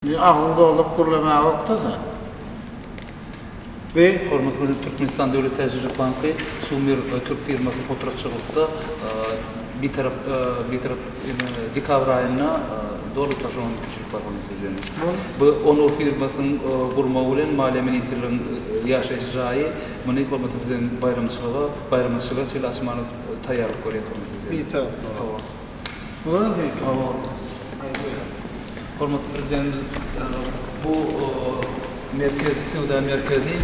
Meň agzym dolduryp gürlemäge okdada. We hormatly prezident Türkmenistan döwlet täjirçilik banky Sumer türk firmasyny potratçylykda bitarap bitarap dekabr aýynda doly taşlamak mümkinçilik bar hormatly prezident. Bu Onur firmasynyň gurmagy bilen maliýe ministrliginiň ýaşaýyş jaýy muny hormatly prezident baýramçylyga baýramçylyga çenli açmaga taýýarlyk görýär hormatly prezident. Bitarap. Hormatly Prezidentimiz bu merkezi söwda merkezi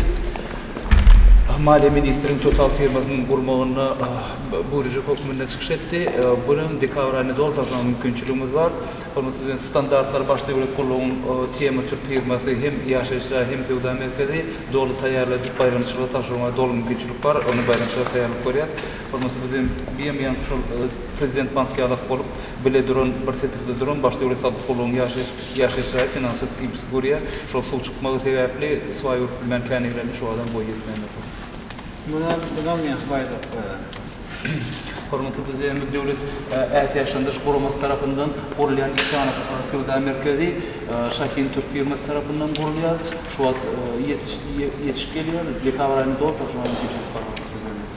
Maliýe ministriniň TOTAL firmasynyň gurmagynda buýrujy hökmünde çykyş etdi. Bu ýyl hem dekabr aýynda doly taşlamaga mümkinçiligimiz bar. Hormatly Prezidentimiz standartlary Baş döwlet gullugynyň TM Türk firmasy hem ýaşaýyş jaý, hem söwda merkezi doly taýýarladyp, baýramçylyga tabşyrmaga doly mümkinçilik bar. Ony baýramçylyga taýýarlyk görýär. Hormatly Prezident diýen ýaňky şol Prezident bank ýalak bolup bile duran bir setirde duran baş döwlet salgyt gullugynyň ýaşaýyş ýaşaýyş jaýy finansyz kibsiz görýär. Şol suw çykmagy sebäpli swaý görüp bilmän känigrende şu adam boýy ýetmändir şol. Muňa bizem ýa baýdak bereli. Hormatly Prezidentimiz Döwlet ätiýaçlandyryş guramasy tarapyndan gurulýan iki sany söwda merkezi Şahin Türk firmasy tarapyndan gurulýar. Şu wagt ýetiş ýetiş gelýär. Dekabr aýynda doly tapşyrmalar geçirilip barýar hormatly Prezidentimiz.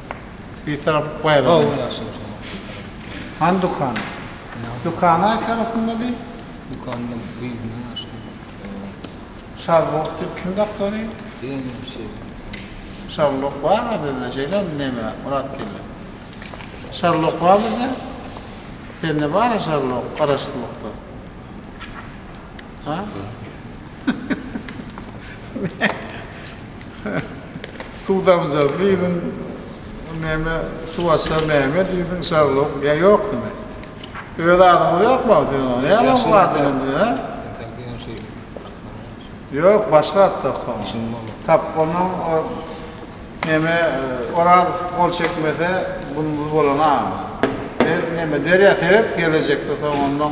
Bitarap baýragyň ýaly ýaşyl. Hany dükan? Dükan aý tarapynda diý. Dükanyň gyýygyna ýaşyl. Şarlok diýip kim dakdy ony? Diýen şeýle dükany. Şarlok bar-a bizde şeýlemi neme, Myrat geldi. Şarlok bar bizde? Sende bar-a şarlok garaşsyzlykda? Suw damjasy diýdiň, näme, suw açar näme diýdiň, Şarlok, ýa ýok diňe. Öz adyňyz ýok maňa siziň oňa, näme oňa bu adyň indi, hä? Entäk diýen şeýle taklaň ýa? Ýok, başga at tak oňa. Şuny boldy. Tap, onuň o, näme, Orazow gol çekmese, günümiz bolan-a. Ber, näme, derýa seret, gelejekde soň ondan.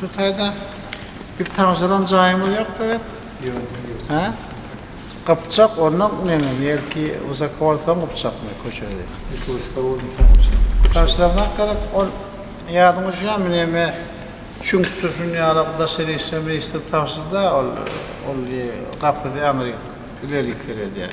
Şu taýda biz tabşyran jaýymyz ýok gerek? Ýok, ýok. Hä? Gypjak onda neňe belki wysaka bolsaň gypjakmy köçesi? Belki wysaka bolmasaň gypjak. Tabşyraňak gerek ol ýadyňa düşýärmi näme çüňkdir şuny ýalak daşary işler ministri tabşyrda ol ol gapysy aňryk ilerik seredýär.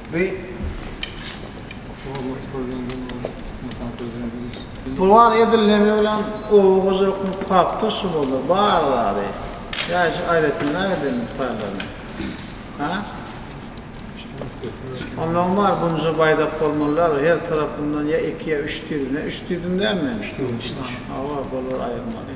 Pulwar edilmegi bilen oba hojalygyň puhagta şugulda bar zady, ýaşy aýratynrak eden mukdarlaryny, ha? Onnoň bar bunja baýdak bolmalylar, her tarapyndan ýa iki ýa üç düýbüne, üç düýbündämi men? Üç düýbün içinde. Hawa, bolar aýyrmaly.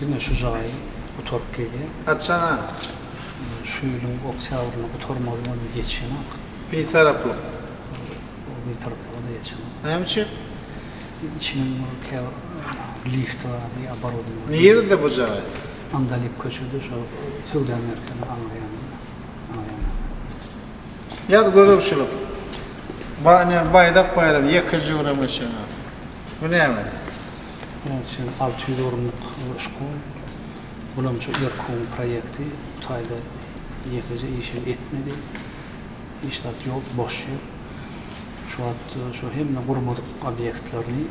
Diňe şu jaýy gutaryp gelýän. Haçana? Şu ýylyň oktýabrynda gutarmaly boldy, geçenok. Bitaraplyk. Ol bitaraplyga-da geçenok. Näme üçin? Içiniň bir käbir lifti bardy, oborodnyý bardy. Nirede bu jaý? Andalyp köçede, şo söwda merkeziniň aňry ýanynda. Aňry ýanynda. Ýaz gözegçilik. Ba, ne, Baýdak baýramy ýekeje görem geçenok. Bu näme? Munuň üçin alty ýüz orunlyk şkol bulamjy Erkuň proýekti bu aýda ýekeje işem etmedi. Hiç zat ýok, boş ýer. Şu wagt şu hemme gurmadyk obýektlerini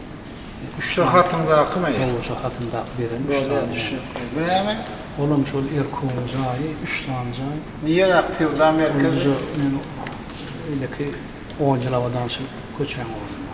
üç Şu hatyndakymy? Hawa, şu hatyndaky beren üç sany. Düşnükli. Bu näme? Olam şol Erkuň jaýy, üç sany jaý. Nireak söwda merkezi? Munuň öňki on ýyl abadançylyk köçäň ornuna.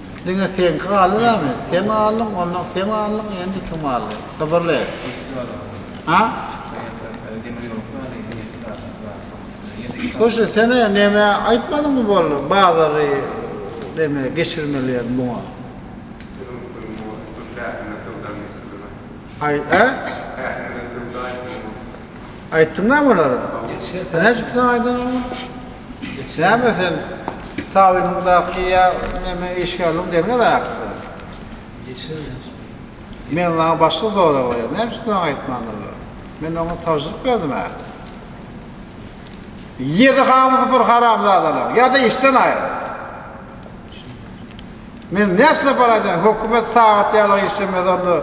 Diňe seňki galdy damy? Sen galdyň, ondan sen galdyň, endi kim galdy? Gybyrly. Ha? Goşy, sen-ä neme aýtmadyňmy boldy, bazary neme geçirmeliýen muňa? Aý, hä? Aýtdyňam olara? Sen näçe plan aýdanyňmy? Näme sen tabynyňdaky ýa neme işgärligiň derňel aýakda? Men saňa başga sorag berýän, näme üçin plan aýtmandyrlar? Men oňa tabşyryk berdim-ä. Ýedi hamysy bir haramzadalar, ýa-da işden aýryl. Men näçe para aýdaýyn, hökümet sagat ýaly işlemez onda,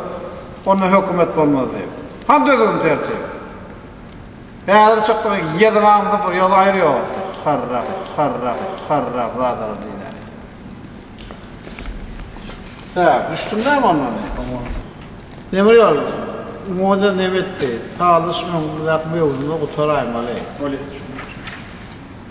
onda hökümet bolmaz diýip. Hany düzgün tertip? Häzir çykdyňyz ýediňaňy sypyr ýoly aýyr ýok etdi. Harrak, harrak, harrak zadalar diýýär. Hä, düşdüm näme onda? Demir ýol muňa-da nebetdi. Salyş öňüňizdäki möwsümi gutaraýmaly. Bolýa, düşündim, düşündim.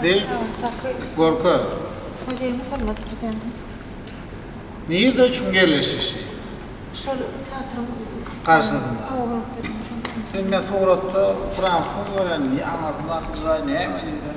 Seýit Gorka. Muzeýimiz bolmadyr bizeniň. Nirde üçin ýerleşişi? Şol teatryň garşysynda. Sen men suratda fransuz görenini, aňyrda akyljy jaý näme diýseň.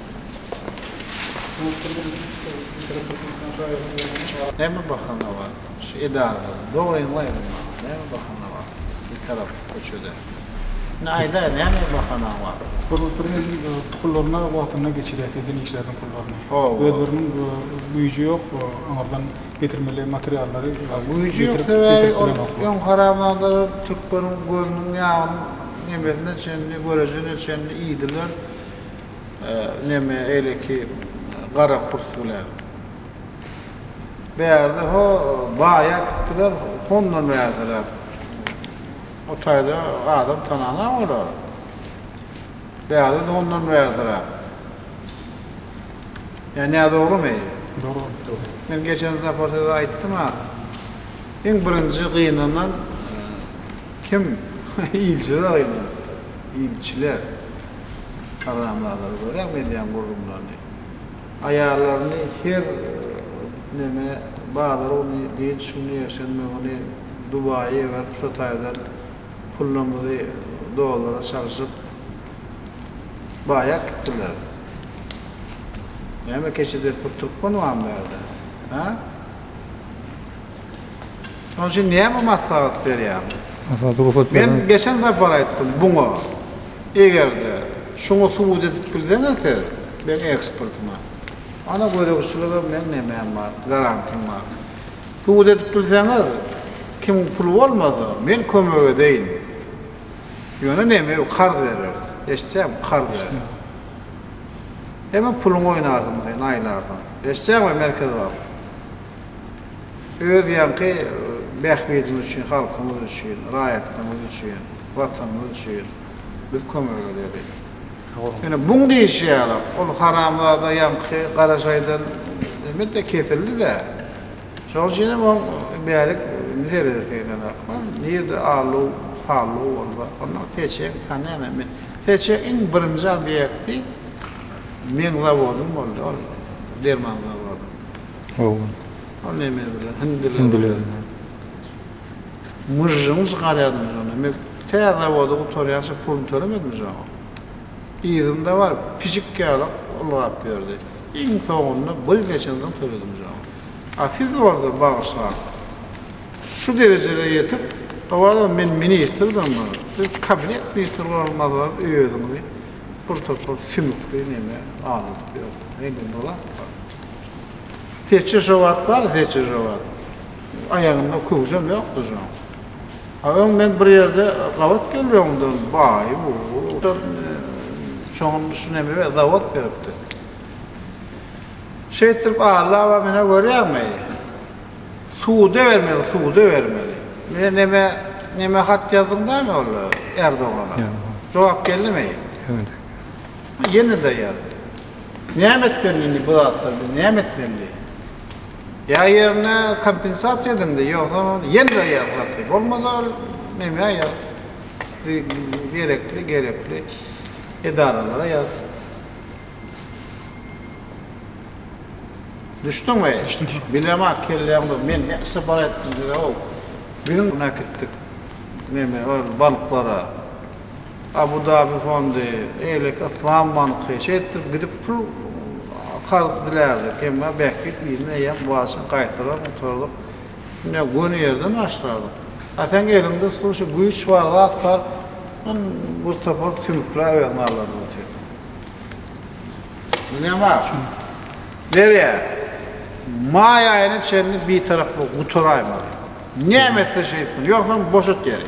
Näme bahana bar şu edarada dogryňy aýdyň maňa näme bahana bar bir tarap köçede indi aýdaý näme bahanaň bar. Hormatly Prezident tukullaryna wagtynda geçirýär sizden işleriň pullaryny. Özleriniň güýji ýok aňyrdan getirmeli materiallary Güýji ýok sebäbi ol öň haramzadalar türkleriň gözüniň ýagyny nemesine çenli görejine çenli iýdiler. Neme eýleki gara kurs bilen. Bärde ho baýa gitdiler hondan bärderäk. O taýda adam tananok olar. Bärde de hondan bärderäk. Ýa nä dogrymy? Dogry bolup dur. Men geçen sapar size aýtdym a. Iň birinji gynanan kim? Ilçi-de gynanypdyr. Ilçiler, haramzadalar görýäňmi edýän gürrüňlerini. Aýallaryny her neme, bazar güni, dynç güni, ýekşenbe güni Dubaýa iberip şo taýdan pullymyzy dollara çalşyp baýap gitdiler. Näme keçi depip oturypkanbam bärde, hä? Şonuň üçin näme maslahat berýäň? Esasy rugsat berlen. Men geçen sapar aýtdym buňa. Egerde şuňa subut edip bilseňiz siz meň eksportyma. Ana gözegçiligim meň nämem bar, garantym bar. Subut edip bilseňiz kim pul bolmasa men kömek edeýin. Ýöne neme karz bereris. Eşitýäňmi karz bereris. Heme puluňy oýnarsyň sen aýlarsyň. Eşitýäňmi Merkez bank. Öz ýaňky bähbidimiz üçin, halkymyz üçin, raýatlarymyz üçin, Watanymyz üçin biz kömek edeli. Ýöne buň diýşi ýaly, ol haramzada ýaňky garajaýdan näme-de kesildi-dä. Şonuň üçin hem oň bärik zeredi seýlenok. Hany, nirede alluw, palluw bolsa, onda seçeň, tanýan hem men. Seçeň iň birinji obýekti meň zawodym boldy, ol derman zawody. Hawa. Ol neme bilen? Hindi bilen. Hindi bilen. Myžžyňy çykarýardyň şonda. Emel tä zawody gutarýança puluny tölemedimi şoň? Yzynda bar, pişik ýaly ylgap ýördi. Iň soňunda bir ýyl geçensoň töledim şoň. A siz bolsa, bagyşlaň, şu derejede ýetip, owadan men ministrdiňmi, siz kabinet ministri bolar mazaly özüňizi bir topar sümükli neme aldyryp ýörsiňiz. Heý, neme zat bar? Seçje şo wagt bar, seçje şo wagt. Aýagynda köwşem ýokdy şoň. A öň men bir ýerde gabat gelip öňden baý bu. Şoňa şu nemä zawod beripdi. Şeýtdirip Alla aba menä görýäňmi? Suda bermeli, suda bermeli. Menä nemä, nemä hat ýazdyň dämi ol Erdogana? Jogap geldimi? Ýene-de ýazdy. Näme etmeli indi bu zatlar biz näme etmeli? Ýa ýerine kompensasiýa ediňde ýogsa ýene-de ýaratly bolmasa näme ýaz gerekli gerekli edaralara ýaz. Düşdüňmi? Bilemä kelläň bir men näkse bar etdim diýdi-ow. Biziň näketdik neme ol balyklara. Abu Dabi fondy, beýleki Yslam banky, şeýtdirip gidip pul karz dilärdik. Emma bähbit yzyna eýýäm başyň gaýtarar gutardyk. Şunda göni ýerden başlardyk. A sen eliňde usuly şu güýç bar zat bar, şundan bir topar sümükläp özüňi aldadyp otyrsyň. Bilýän bar şuny. Derýa, maý aýyna çenli bitaraplygy gutaraýmaly. Näme etsesem etsin, ýogsam boşat ýeri.